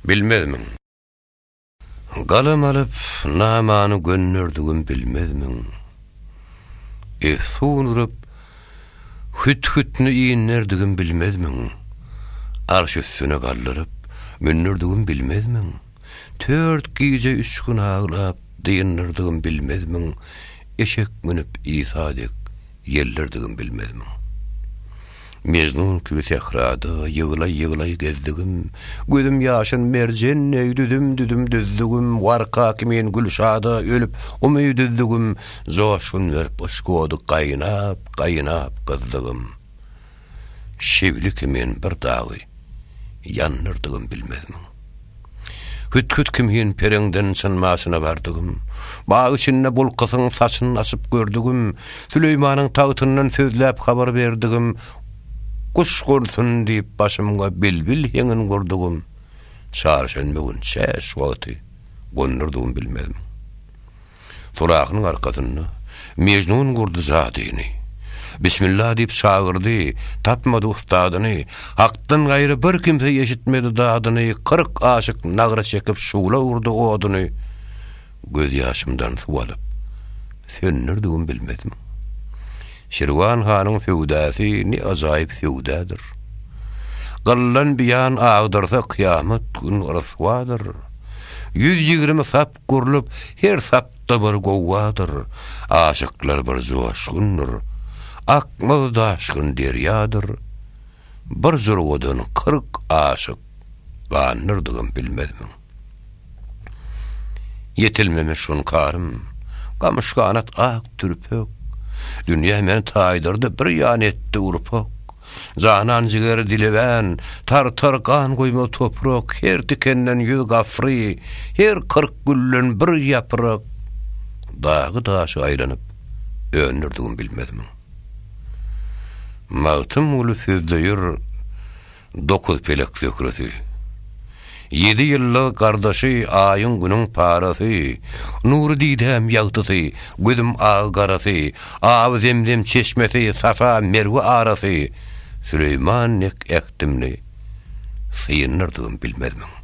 Bilmezmiň? Galam alyp, namany gönderdigim bilmezmiň? Efsun urup, hüt-hütni inderdigim bilmezmiň? Arş üstüne galdyryp, mündirdigim bilmezmiň? Tört gije üç gün aglap, dyndyrdygym bilmezmiň? Eşek münüp Isa dek, ýeldirdigim bilmezmiň? Mejnun kibi sährada ýyglaý-ýyglaý gezdigim, Gözüm ýaşyn merjen deý düzüm-düzüm düzdügim, Warka kimin Gülşada ölüp umyt üzdügim, Joşgun berip yşk ody gaýnap, gaýnap gyzdygym. Şewli kimin bir dagy ýandyrdygym bilmezmiň? Hüt-hüt kimin pereňden synmasyna bardygym. Bag içinde bulkasyň saçyn açyp gördügim, Süleýmanyň tagtyndan sözläp habar berdigim, Guş gursun diýip başymga bilbil heňin gurdugym, Çarşenbe gün çäş wagty gondurdygym bilmezmiň. Surahynyň arkasynda Mejnun gurdy jadyny. Bismilla diýip çagyrdy, tapmady ussadyny, Hakdan gaýry bir kimse eşitmedi dadyny, Kyrk aşyk nagra çekip şugla urdy oduny, Göz ýaşymdan suw alyp, söndürdigim bilmezmi? Şirwan hanyň söwdasy ne ajaýyp söwdadyr. Gyllan biýan agdyrsa kyýamat gün ryswadyr. Ýüz ýigrimi sap gurlup, her sapda bir gowgadyr, Aşyklar bir joşgundyr, akmaz daşgyn derýadyr, Bir jurgadan kyrk aşyk gandyrdygyň bilmezmiň? Ýetilmemiş hunkarym, gamyşganat ak türpek, Dünýä meni taýdyrdy, bir ýan etdi urpak. Janan jigeri dilebän, tartar gan guýma toprak, her tikenden ýüz gafry, her kyrk gülden bir ýaprak, dagy daşy aýlanyp, öndürdigim bilmezmiň? Magtymguly sözleýär, Dokuz pelek zöhresi, Ýedi ýyllyk gardaşy, Aýyň-Günüň parasy, Nury didäm ýagtysy, Gözüm agy garasy, Awy Zemzem çeşmesi, Safa Merwe arasy, Süleýman dek ähtimli, Syýyndyrdygym bilmezmiň?